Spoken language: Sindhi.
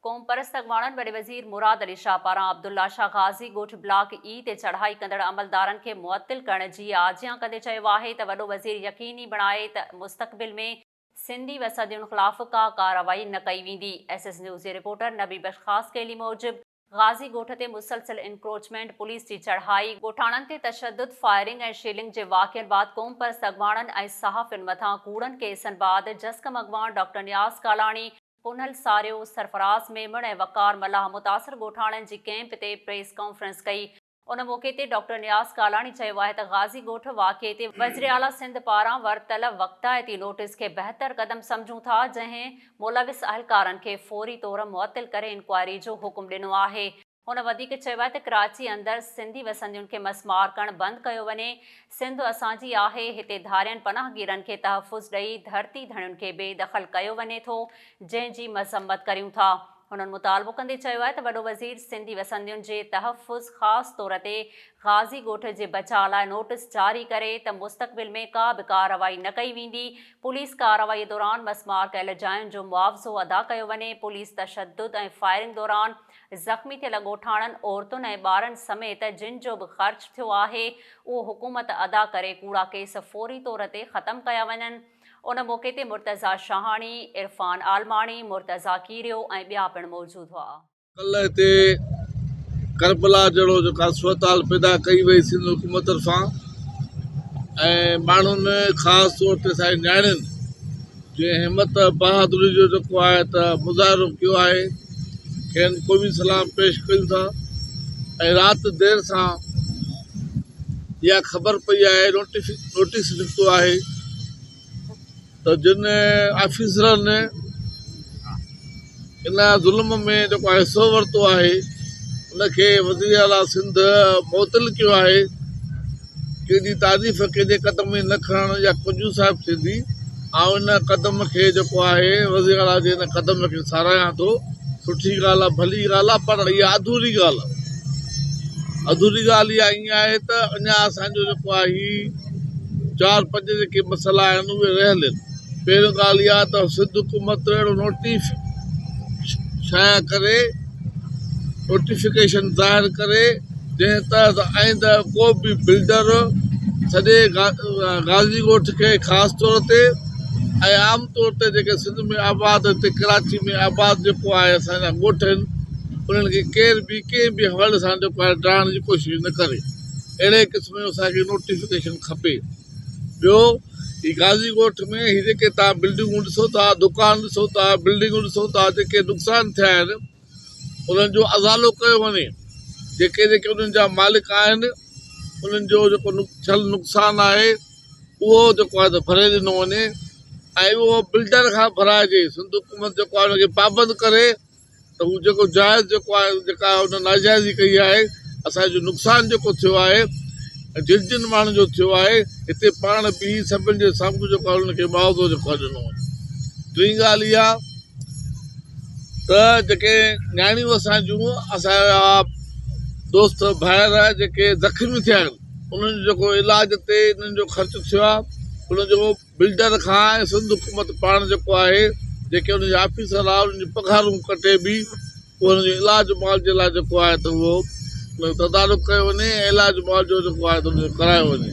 قومپرست اڳواڻن وڏي وزير مراد علي شاهه پاران عبدالله شاهه غازي ڳوٺ بلاڪ اي تي چڙهائي ڪندڙ عملدارن کي معطل ڪرڻ جي آجيان ڪندي چيو آهي ته وڏو وزير يقيني بڻائي ته مستقبل ۾ سنڌي وسندين خلاف ڪا ڪارروائي نه ڪئي ويندي. ايس ايس نيوز جي رپورٽر نبي بخش خاصخيلي موجب غازي ڳوٺ تي مسلسل انڪروچمينٽ، پوليس جي چڙهائي، ڳوٺاڻن تي تشدد، فائرنگ ۽ شيلنگ جي واقعن بعد قومپرست اڳواڻن ۽ صحافين مٿان ڪوڙن ڪيسن بعد جسقم اڳواڻ ڊاڪٽر نياز ڪالاڻي، پونئل ساريو، سرفراز ميمڻ ۽ وقار ملاح متاثر ڳوٺاڻن جي ڪئمپ تي پريس ڪانفرنس ڪئي. ان موقعي تي ڊاڪٽر نياز ڪالاڻي چيو آهي ته غازي ڳوٺ واقعي تي وزيراعليٰ سنڌ پاران ورتل وقتائتي نوٽيس کي بهتر قدم سمجهون ٿا جنهن ملوث اهلڪارن کي فوري طور معطل ڪري انڪوائري جو حڪم ڏنو آهي. هن وڌيڪ چيو آهي ته ڪراچي اندر سنڌي وسندين کي مس مار ڪرڻ بند ڪيو وڃي، سنڌ اسان جي آهي، هتي ڌارين پناهگيرن کي تحفظ ڏئي ڌرتي ڌڻين کي بي دخل ڪيو وڃي ٿو، جنهن جي مذمت ڪريون ٿا. هنن مطالبو ڪندي چيو آهي ته وڏو وزير سنڌي وسندين جي تحفظ خاص طور تي غازي ڳوٺ جي بچاء لاء نوٽس جاري ڪري ته مستقبل ۾ ڪا به ڪارروائي نه ڪئي ويندي، پوليس ڪارروائي دوران مس مار ڪيل جاين جو معاوضو ادا ڪيو وڃي، پوليس تشدد ۽ فائرنگ دوران زخمي ٿيل ڳوٺاڻن، عورتن ۽ ٻارن سميت جن جو به خرچ ٿيو آهي اهو حڪومت ادا ڪري ڪوڙا ڪيس فوري طور تي ختم ڪيا وڃن. ان موقعي تي مرتضيٰ شاهاڻي، عرفان عالماڻي، مرتضيٰ ڪيريو ۽ ٻيا پڻ موجود هئا. ڪلهه هتي ڪربلا جهڙو جيڪا صورتحال پيدا ڪئي وئي سنڌ حڪومت طرفان ۽ ماڻهن خاص طور تي اسان جي نياڻين جنهن همت بهادري جو جيڪو آهي ته مظاهرو ڪيو آهي کين قومي سلام پيش ڪيون ٿا ۽ رات دير سان اها خبر پئي آهي نوٽيس نڪتو آهي ته جن آفيسرن ان ظلم ۾ جيڪو حصو ورتو آهي ان کي وزير اعلٰي سنڌ معطل ڪيو آهي ڪنهن جي تعريف ڪنهن جي قدم ۾ نه کڻڻ يا ڪجهه صاحب ٿيندي آئون ان قدم کي جيڪو آهي وزير اعلٰي جي ان قدم کي ساراهيان ٿو سٺي ڳالهه آهي ڀلي ڳالهه آهي پر اها اڌوري ڳالهه آهي اڌوري ڳالهه اها ائين آهي ته اڃا اسانجو جيڪو آهي چار پنج جيڪي مسئلا آهن اهي رهيل آهن پهريون ڳالهه اها ته سنڌ حڪومت اهڙو نوٽيف شايع ڪري نوٽيفڪيشن ظاهر ڪري جنهن تحت آئنده ڪو به بلڊر سڄي غازي ڳوٺ کي خاص طور تي ۽ عام طور تي جيڪي سنڌ ۾ آباد هتي ڪراچي ۾ آباد جيڪو آهي اسانجا ڳوٺ آهن انهن کي ڪير به ڪنهن به حوالي سان جيڪو آهي ڊاهڻ جي ڪوشش نه ڪري اهڙي قسم جو اسانکي نوٽيفڪيشن کپي ٻيو هي غازي ڳوٺ ۾ هي جيڪي تهان بلڊنگون ڏسو ٿا دڪان ڏسو ٿا بلڊنگون ڏسو ٿا جيڪي نقصان ٿيا آهن انهن جو ازالو ڪيو وڃي جيڪي جيڪي انهن جا مالڪ آهن انهن جو جيڪو ٿيل نقصان آهي اهو جيڪو آهي ته ڀري ڏنو وڃي ۽ اهو بلڊر کان ڀرائجي سنڌ حڪومت جيڪو آهي ان کي پابند ڪري ته هو جيڪو جائز جيڪو آهي جيڪا هن ناجائزي ڪئي آهي اسانجو نقصان جيڪو ٿيو آهي جن جن ماڻهن جو ٿيو آهي هتي پاڻ بيهي سڀن جي سامهون جيڪو آهي انهن کي معاوضو جيڪو آهي ڏنو وڃي ٽين ڳالهه اها ته جيڪي نياڻيون اسان جون اسانجا دوست ڀائر جيڪي زخمي ٿيا آهن انهن جو جيڪو علاج تي انهن جو خرچ ٿيو آهي انهن جو بلڊر کان ۽ سنڌ حڪومت پاڻ جيڪو آهي جيڪي ان جا آفيسر آهن انهن جون پگهارون ڪٽي به پوء انهن جو علاج معالجي لاء جيڪو آهي ته اهو تدارڪ ڪيو وڃي ۽ علاج معالجو جيڪو آهي ته ان جو ڪرايو وڃي.